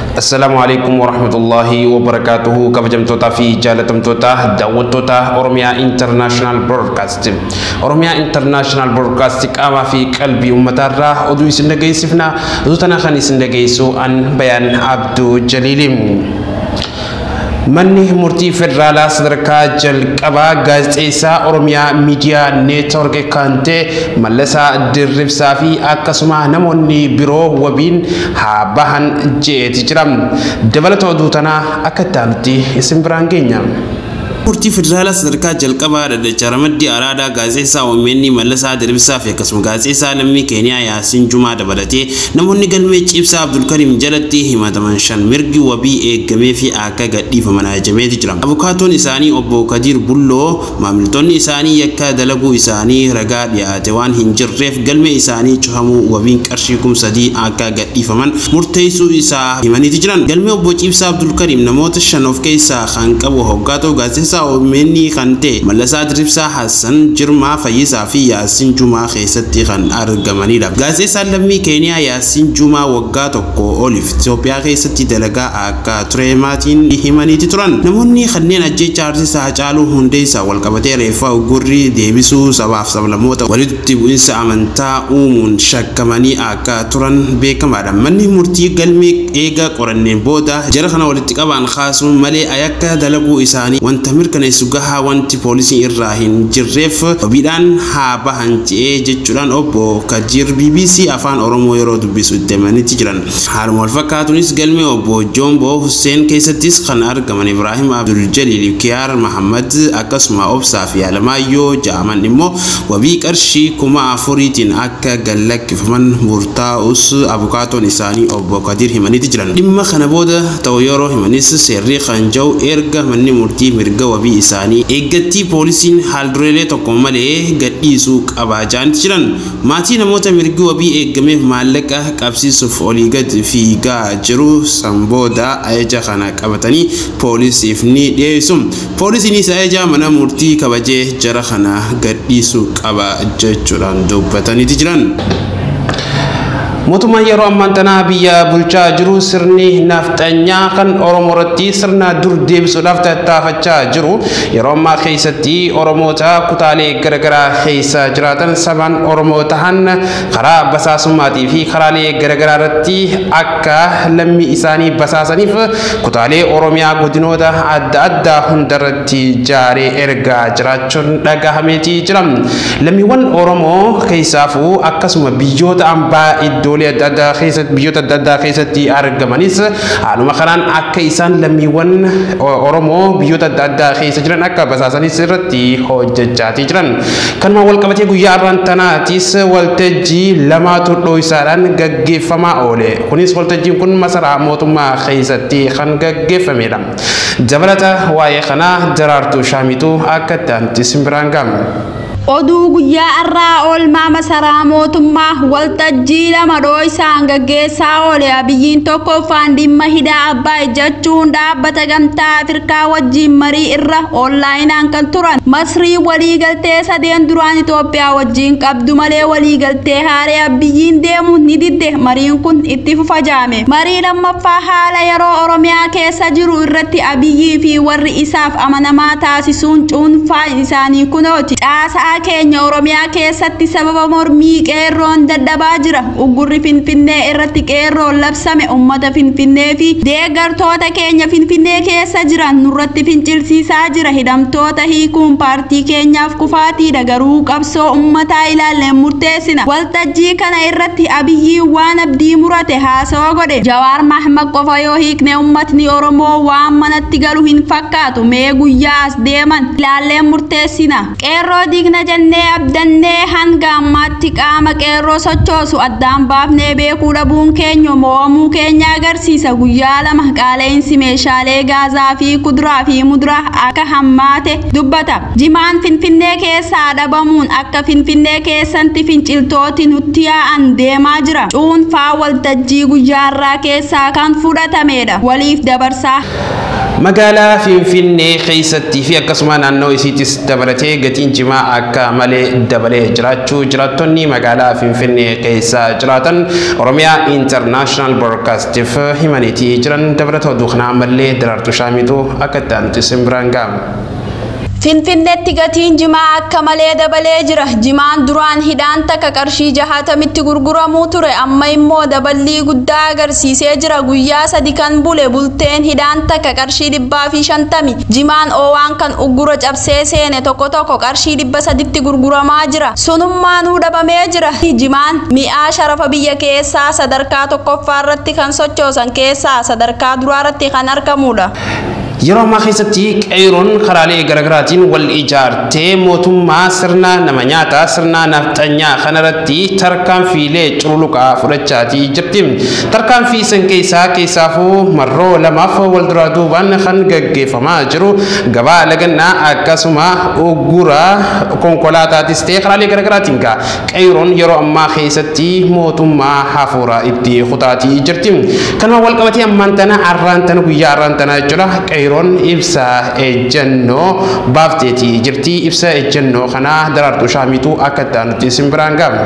Assalaamu alaikum warahmatullahi wabarakaatuhu kabajamtootaa fi jaalatamtoota daawwattoota Oromiyaa International Broadcast. Oromiyaa International Broadcast qaamaa fi qalbii uummataarraa oduu isin dhageessifna. Oduu tana kan isin dhageessu an Bayaan Abduu Jaliiliim. Manni murtii federaalaa sadarkaa jalqabaa gaazexeessaa Oromiyaa Miidiyaa Neetwork kan ta'e Mallasaa Dirribsaa fi akkasuma namoonni biroo wabiin haa bahan je'eeti jira. Dabalata oduu tanaa akka itti aanutti isin biraan geenya. Manni Murtii Federaalaa Sadarkaa Jalqabaa Dhaddacha Ramaddii Araadaa Gaazexeessaa omn Mallasaa Dirbsaa fi akkasuma Gaazexeessaa Lammii Keeniyaa Yaasiin Jumaa dabalatee namoonni galmee Cibsaa Abdulkariim jalatti himataman shan mirgi wabii eegameefii akka gadhiifaman ajajameeti jira. Abukaatoon isaanii Obbo Kadiir Bulloo maamiltoonni isaanii yakka dalaguu isaanii ragaa dhiyaate waan hin jirreef galmee isaanii cufamuu wabiin qarshii kum sadii akka gadhiifaman murteessuu isaa himaniiti jiran. Galmee Obbo Cibsaa Abdulkariim namoota shan of keessaa kan qabu hoggaa ta'u gaazexessaa omn kan ta'e Mallasaa Diribsaa, Hassan Jirmaa, Fayyisaa fi Yaassin Jumaa keessatti kan argamanidha. Gaazexessaan lammii Keeniyaa Yaassin Jumaa waggaa tokkoo oliif Itoophiyaa keessatti dalagaa akka ture maatiin himaniiti turan. Namoonni kanneen ajjeechaa Artist Haacaaluu Hundeessaa walqabatee reeffa uggurri deebisuu sabaaf sablammoota walitti bu'insa amantaa uumuun shakkamanii akka turan beekamaadha. Manni murtii galmee eega qoranneen booda jara kana walitti qabaan kaasuun malee ayakka dalaguu isaanii wanta mirkaneessu gahaa wanti poolisiin irraa hin jirreef wabiidhaan haa bahan je'ee jechuudhaan Obbo Kadiir bbc Afaan Oromoo yeroo dubbisu itti himanitti jiran. Haaluma wal fakkaatuunis galmee Obbo Joomboo Husseen keessattis kan argaman Ibraahim Abdul Jaliil fi Kiyaar Mahammad akkasuma Obsaa fi Alamaayyoo ja'aman immoo wabii qarshii kuma afuriitiin akka akka gad lakkifaman murtaa'us abukaatoon isaanii obbo Kadiir himaniiti jiran. Dhimma kana booda ta'u yeroo himanis seerri kan ja'u erga manni murtii mirga wabii isaanii eeggattii poolisiin haaldureelee tokko malee gad dhiisuu qaba ja'aniiti jiran. Maatii namoota mirgi wabii eeggameef maallaqa qabsiisuuf olii gad fiigaa jiru. San booda ajaja kana qabatanii poolisiif ni dhiyeessu. Poolisiinis ajaja mana murtii kabajee jara kana gadhiisuu qaba jechuudhaan dubbataniiti jiran. Mootummaan yeroo ammaan tanaa biyya bulchaa jiru sirni nafxanyaa kan Oromoo irratti sirna dur deebisuudhaaf tattaafachaa jiru. Yeroo ammaa keessatti Oromoota kutaalee garagaraa keessa jiraatan sabaan Oromoo tahan karaa basaasummaatii fi karaalee garagaraa irratti akka lammii isaanii basaasaniif kutaalee Oromiyaa godinoota adda addaa hundarratti jaaree ergaa jiraachuun dhagahameetii jira. Lammiiwwan Oromoo keessaafuu akkasuma biyyoota ambaa iddoolee adda addaa keessatti biyyoota adda addaa keessatti argamanis haaluma kanaan akka isaan lammiiwwan Oromoo biyyoota adda addaa keessa jiran akka basaasanis irratti hojjechaatii jiran. Kanumaan walqabatee guyyaa arraan tanaatis waltajjii lamaatu dhooysaadhaan gaggeeffamaa oole. Kunis waltajjiin kun masaraa mootummaa keessatti kan gaggeeffameedha. Dabalata waa'ee kanaa Daraartuu Shaamiitu akka itti aanutti isin biraan ga'a. Oduu guyyaa arraa oolmaa masaraa mootummaa waltajjii lama dhooysaan gaggeessaa oole Abiyyiin tokkoffaan dhimma hidha Abbaay jechuun dhaabbata gamtaa Afrikaa Ameerikaa wajjiin marii irra oonlaayinaan kan turan Masriin waliigaltee sadeen duraan Itoophiyaa wajjiin qabdu malee waliigaltee haaree Abbiyyiin deemu ni didde mariin kun itti fufa jaame. Marii lammaffaa haala yeroo Oromiyaa keessa jiru irratti Abiyyii fi warri isaaf amanamaa taasisuun cuunfaan isaanii kunooti. Caasaa keenya Oromiyaa keessatti sababa mormii qeerroon dadhabaa jira. Uggurri Finfinnee irratti qeerroon labsame ummata Finfinnee fi deeggartoota keenya Finfinnee keessa jiran nurratti fincilsiisaa jira. Hidhamtoota hiikuun paartii keenyaaf kufaatiidha. Garuu qabsoo ummataa ilaalleen murteessina. Waltajjii kana irratti Abiyyiin waan abdii murate haasawa godhe. Jawaar Mahmad qofa yoo hiikne ummatni Oromoo waan manatti galu hin fakkaatu. Mee guyyaa as deeman ilaalleen murteessina. Qeerroo diigna jennee abdannee hanga ammaatti qaama qeerroo sochoosu addaan baafnee beekuu dhabuun keenya mo'amuu keenya agarsiisa. Guyyaa lama qaala'insi meeshaalee gaazaa fi kuduraa fi muduraa akka hammaate dubbata. Jimaan Finfinnee keessaa dhabamuun akka Finfinnee keessanti finciltooti nutti yaa'an deemaa jira. Cuunfaa waltajjii guyyaarraa keessaa kan fudhatameedha. Waliif dabarsaa. Magaalaa Finfinnee keessattii fi akkasuma naannoo isiittis dabalatee gatiin jimaa akka malee dabalee jiraachuu jiraattonni magaalaa Finfinnee keessa jiraatan Oromiyaa International Broadcastif himaniitii jiran dabalata oduu kanaa ammallee Daraartuu Shaamiitu akka itti aanutti isin biraan ga'a. Finfinneetti gatiin jimaa akka malee dabalee jira. Jimaan duraan hidhaan takka qarshii jahatamitti gurguramuu ture amma immoo daballii guddaa agarsiisee jira. Guyyaa sadi kan bule bulteen hidhaan takka qarshii dhibbaa fi shantami. Jimaan oowaan kan uggura cabsee seene tokko tokko qarshii dhibba saditti gurguramaa jira. Sunummaanuu dhabamee jira. Jimaan mi'aa sharafa biyya keessaa sadarkaa tokkoffaarratti kan sochoosan keessaa sadarkaa duraarratti kan argamuudha. Yeroo ammaa keessatti Qeeyroon karaalee garagaraatiin wal ijaartee mootummaa sirna nama nyaataa, sirna nafxanyaa kanarratti tarkaanfiilee cululuqaa fudhachaatii jirti. Tarkaanfii san keessaa keessaafuu marroo lamaaf wal duraa duubaan kan gaggeeffamaa jiru gabaa lagannaa akkasuma uggura konkolaataatis ta'e karaalee garagaraatiin gaa Qeyroon yeroo ammaa keessatti mootummaa hafuuraa itti kutaatii jirti. Kanuma wal qabatee ammaan tana arraan tana guyyaa arraan tana jechuudha qeyroon ibsa ejjennoo baafteetii jirti. Ibsa ejjennoo kana daraartuu shaamiitu akka itti aanutti isin biraan ga'a.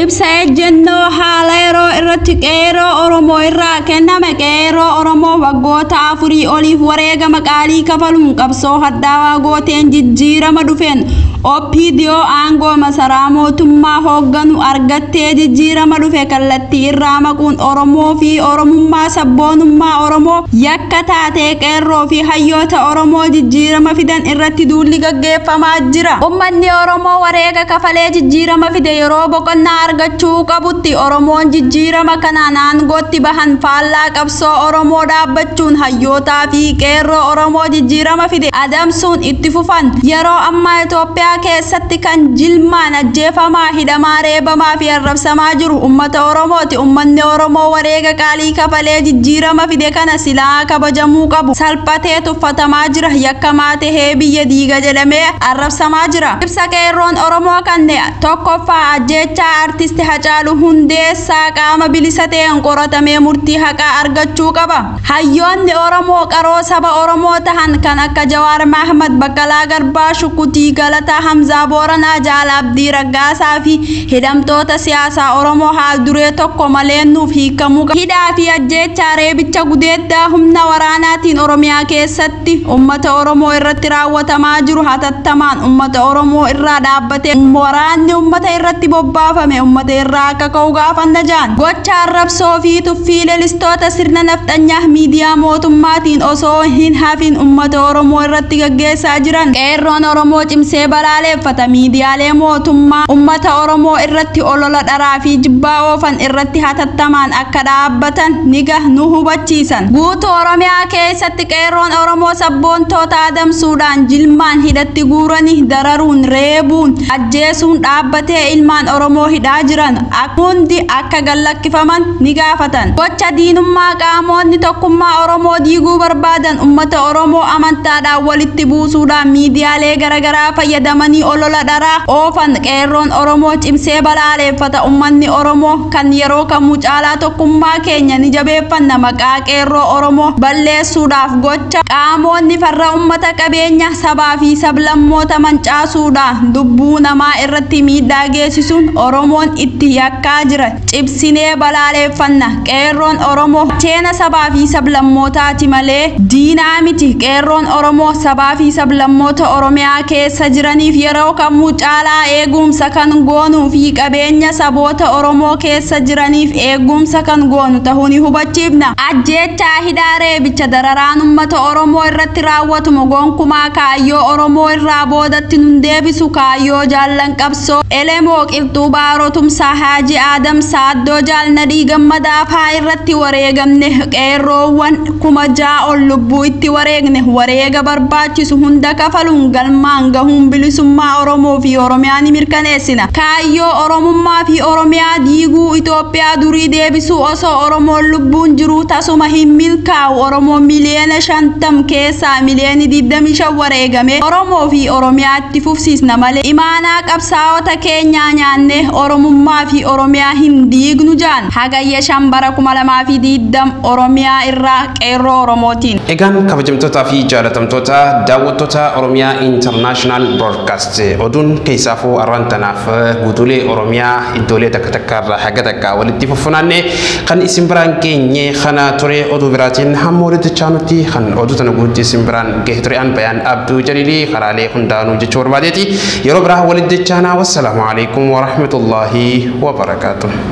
Ibsa ejjennoo haala yeroo irratti qeeroo Oromoo irraa kenname qeeroo Oromoo waggoota afurii oliif wareegama qaalii kafaluun qabsoo hadhaawaa gooteen jijjiirama dhufeen OPDO aangoo masaraa mootummaa hoogganu argattee jijjiirama dhufe kallattii irraa maquun Oromoo fi Oromummaa sabboonummaa Oromoo yakka taatee Qeerroo fi hayyoota Oromoo jijjiirama fidan irratti duulli gaggeeffamaa jira. Ummanni Oromoo wareega kafalee jijjiirama fide yeroo boqonnaa argachuu qabutti Oromoon jijjiirama kanaan aangootti bahan faallaa qabsoo Oromoo dhaabbachuun hayyootaa fi Qeerroo Oromoo jijjiirama fide adamsuun itti fufan. Yeroo ammaa Itoophiyaa keessatti kan jilmaan ajjeefamaa, hidhamaa, reebamaa fi arrabsamaa jiru ummata Oromooti. Ummanni Oromoo wareega qaalii kafalee jijjiirama fide kana silaa kabajamuu qabu salphatee tuffatamaa jira, yakkamaa tahee biyya diiga jedhamee arrabsamaa jira. Ibsa Qeerroon Oromoo kanne, 1ffaa Ajjeechaa Artisti Hacaaluu Hundeessaa qaama bilisa taheen qoratamee murtii haqaa argachuu qaba. Hayyoonni Oromoo qaroo saba Oromoo tahan kan akka Jawaar Mahmad, Baqqalaa Garbaa, Shukutii Galataa, Hamzaa Booranaa, Jaal Abdii Raggaasaa fi hidhamtoota siyaasaa Oromoo haal duree tokko malee nuuf hiikamuu qabu. Hidhaa fi ajjeechaa, reebicha, gudeeddaa humna waraanaatiin Oromiyaa keessatti. irratti ummata Oromoo irratti raawwatamaa jiru hatattamaan ummata Oromoo irraa dhaabbatee waraanni ummata irratti bobbaafame ummata irraa akka ka'u gaafanna jaan. Gocha arrabsoo fi tuffii lelistoota sirna nafxanyaa miidiyaa mootummaatiin osoo hin hafin ummata Oromoo irratti gaggeessaa jiran Qeerroon Oromoo cimsee balaaleeffata. Miidiyaalee mootummaa ummata Oromoo irratti olola dharaa fi jibbaa oofan irratti hatattamaan akka dhaabbatan niga nu hubachiisan. Guutuu Oromiyaa keessatti. Qeerroon Oromoo sabboontoota adamsuudhaan jilmaan hidhatti guuranii dararuun, reebuun, ajjeesuun dhaabbatee ilmaan Oromoo hidhaa jiran hundi akka gallakkifaman ni gaafatan. Gocha diinummaa qaamoonni tokkummaa Oromoo diiguu barbaadan ummata Oromoo amantaadhaan walitti buusuudhaan miidiyaalee garagaraa fayyadamanii olola dharaa oofan Qeerroon Oromoo cimsee balaaleeffata. Ummanni Oromoo. kan yeroo kamuu caalaa tokkummaa keenya ni jabeeffanna maqaa qeerroo Oromoo balleessuudhaaf gocha qaamoonni farra ummata qabeenya sabaa fi sablammoota mancaasuudha lubbuu namaa irratti miidhaa geessisuun Oromoon itti yakkaa jira cibsinee balaaleeffanna qeerroon Oromoo gacheena sabaa fi sablammootaati malee diinaa miti qeerroon Oromoo sabaa fi sablammoota Oromiyaa keessa jiraniif yeroo kamuu caalaa eeguumsa kan goonuu fi Nageenya saboota Oromoo keessa jiraniif eegumsa kan goonu tahuu ni hubachiifna. Ajjeechaa, hidhaa, reebicha, dararaan ummata Oromoo irratti raawwatumo gonkumaa kaayyoo Oromoo irraa boodatti nun deebisu, kaayyoo Jaallan Qabsoo, Elemoo, Qilxuu Baaroo, Tumsaa Haaji Aadam, Saaddoo Jaal Nadhii Gammadaa faa irratti wareegamne, Qeerroowwan 6000 ol lubbuu itti wareegne, wareega barbaachisu hunda kafaluun galmaan gahuun bilisummaa Oromoo fi Oromiyaa ni mirkaneessina. Kaayyoo Oromummaa fi Oromiyaa diiguu, Itoophiyaa durii deebisuu osoo Oromoon lubbuun jiruu tasuma hin milkaa'u. Oromoon miliyoona 50 keessaa miliyoonni 25 wareegamee Oromoo fi Oromiyaa itti fufsiisna malee imaanaa qabsaa'ota keenyaa nyaannee Oromummaa fi Oromiyaa hin diignu jaan Hagayya 5 bara 2020 Oromiyaa irraa Qeerroo Oromootiin. Egaan kabajamtootaa fi jaalatamtoota daawwattoota Oromiyaa International Broadcast. Oduun keessaafuu arraan tanaaf guutuulee Oromiyaa iddoolee takka takka irraa haga takka walitti fuffunaanne kan isin biraan geenye kana ture oduu biraatiin hamma walitti chaanutti kan oduu tana guutti isin biraan gahe ture an bayaan abduu jaliilii karaalee hundaanuu jechuu barbaadeeti yeroo biraa walitti chaanaa wassalaamu alaikum warahmatullaahi wabarakaatu.